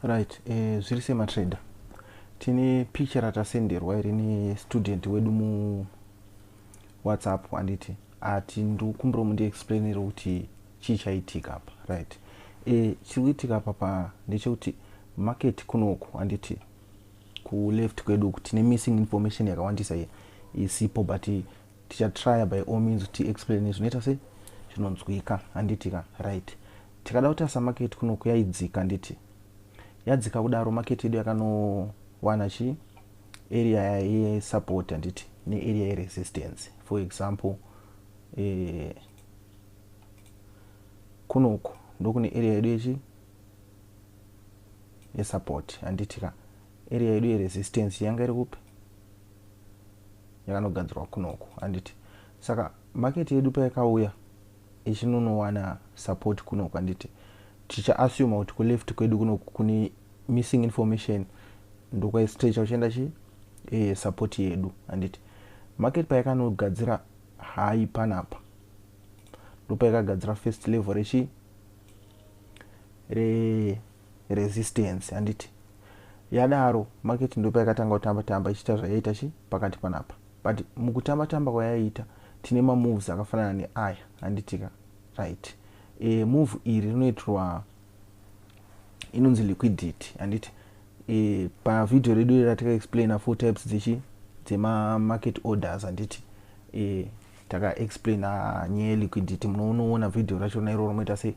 Right, eh, zviri sema trader. Tine picture ratasenderwa iri ne student wedu mu WhatsApp anditi ati ndikumbira mundi explainere kuti chii chaitika apa. Right. Eh, chiri kuitika apa pa ndechekuti market kunoku anditi ku left kwedu kuti ne missing information yakawandisa here isipo but tichatrya by all means kuti explain zvinoita sei zvinonzwika handiti ka right tikada kutarisa maketi kuno kuyaidzika handiti yadzika kudaro maketi yedu yakanowana chii area yesupport handiti nearea yeresistance for example eh, kunoku ndokune area yedu yechi yesupport handiti ka area yedu yeresistance yanga iri kupi yakanogadzirwa kunoku handiti saka market yedu payakauya ichinonowana support kunoku handiti tichaassume kuti kuleft kwedu kunoku kune missing information ndokwaistrecha uchienda chi e, support yedu handiti market payakanogadzira hai panapa ndopaikagadzira first level rechi re resistance handiti yadaro market ndipo yakatanga kutamba tamba ichiita zvayaita chi pakati panapa but mukutamba tamba kwayaita tine mamoves akafanana neaya handitika right e, move iri rinoitirwa inonzi liquidity handiti e, pavideo redu iri rataka explaina four types dzechi dzemamarket orders handiti e, takaexplaina nyaya yeliquidity munoonoona vhidhiyo rachona iroro moita sei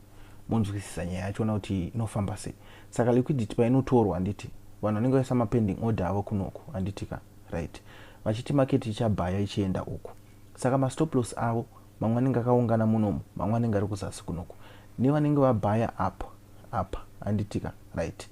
monzwisisa nyaya yachona kuti inofamba sei saka liquidity painotorwa handiti vanhu vanenge vaisa mapending order avo kunoku handiti ka right vachiti maketi ichabhaya ichienda uku saka mastoplos avo mamwe anenge akaungana munomu mamwe anenge ari kuzasi kunoku nevanenge vabhaya apa apa handiti ka right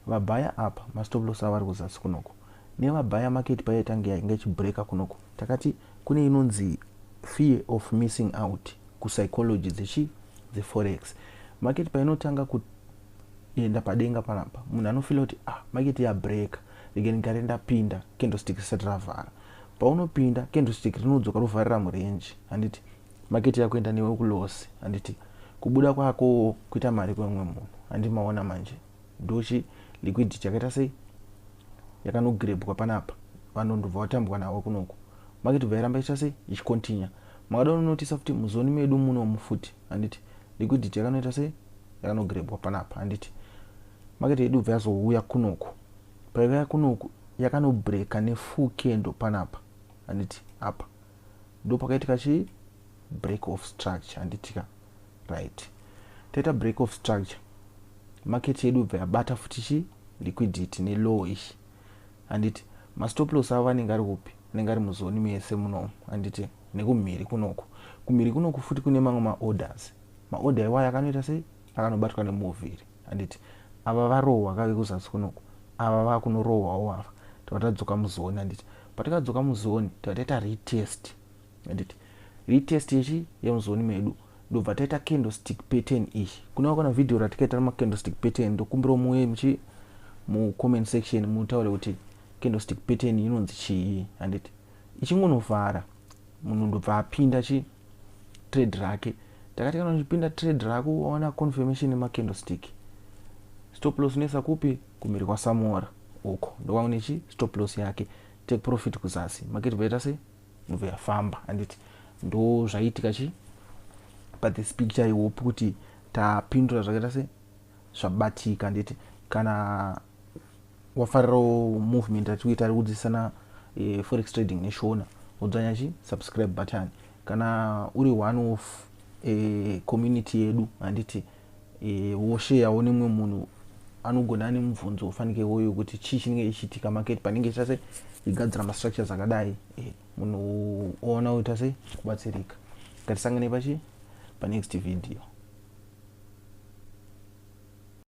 vabhaya apa mastoplos avo ari kuzasi kunoku nevabhaya maketi paiyatange yainge ichibreaka kunoku takati Kune inonzi fear of missing out kupsychology dzechi dzeforex market painotanga kuenda padenga panapa munhu anofila kuti ah market yabreaker rege ndigare ndapinda candlestick risati ravhara paunopinda candlestick rinodzoka rovharira murenji handiti maketi yakuenda newe kulosi handiti kubuda kwako kuita mari kwemumwe munhu handi maona manje ndochi liquidity yakaita sei yakanogrebwa panapa vanhu ndobva vatambwa navo kunoku market bva iramba ichita sei ichicontinue makada unonotisa futi muzoni medu muno mufuti handiti liquidity yakanoita sei yakanogrebwa panapa handiti market yedu bva yazouya kunoku paiva kunoku yakanobreaka nefull kendo panapa handiti apa ndopakaitika chii break of structure handitika right taita break of structure market yedu ibva yabata futi chi liquidity nelow ishi handiti mastop loss avo anenge ari kupi anenge ari muzoni mese munomu handiti nekumhiri kunoku kumhiri kunoku futi kune mamwe maorders maorder iwayo akanoita sei akanobatwa nemuviri handiti ava varohwa kave kuzasi kunoku ava vakunorohwawo ava tava tadzoka muzoni handiti patikadzoka muzoni tava taita retest handiti hii test yechi yemuzoni medu ndobva taita candlestick pattern iyi kuna kana video ratikaita rema candlestick pattern ndokumbira muye muchi mu comment section mutaure kuti candlestick pattern inonzi chii handiti ichingonovhara munhu ndobva apinda chi trade rake takati kana uchipinda trade rako waona confirmation yema candlestick stop loss unoisa kupi kumhiri kwasamora uko ndokwangune chi stop loss yake take profit kuzasi market vaita sei inobva yafamba handiti ndo zvaiitika chii pathis picture ihope kuti tapindura zvakaita se zvabatika handiti kana wafarirawo movement atikuita ari kudzidzisana e, forex trading neshona udzanya chi subscribe button kana uri one of e, community yedu handiti e, wosheyawo nemumwe munhu anogona ane mubvunzo ufanike woyo kuti chii chinenge chichiitika market panenge ichita se igadzira mastructures akadai e, munhu oona woita se kubatsirika ngatisangane pachi panext video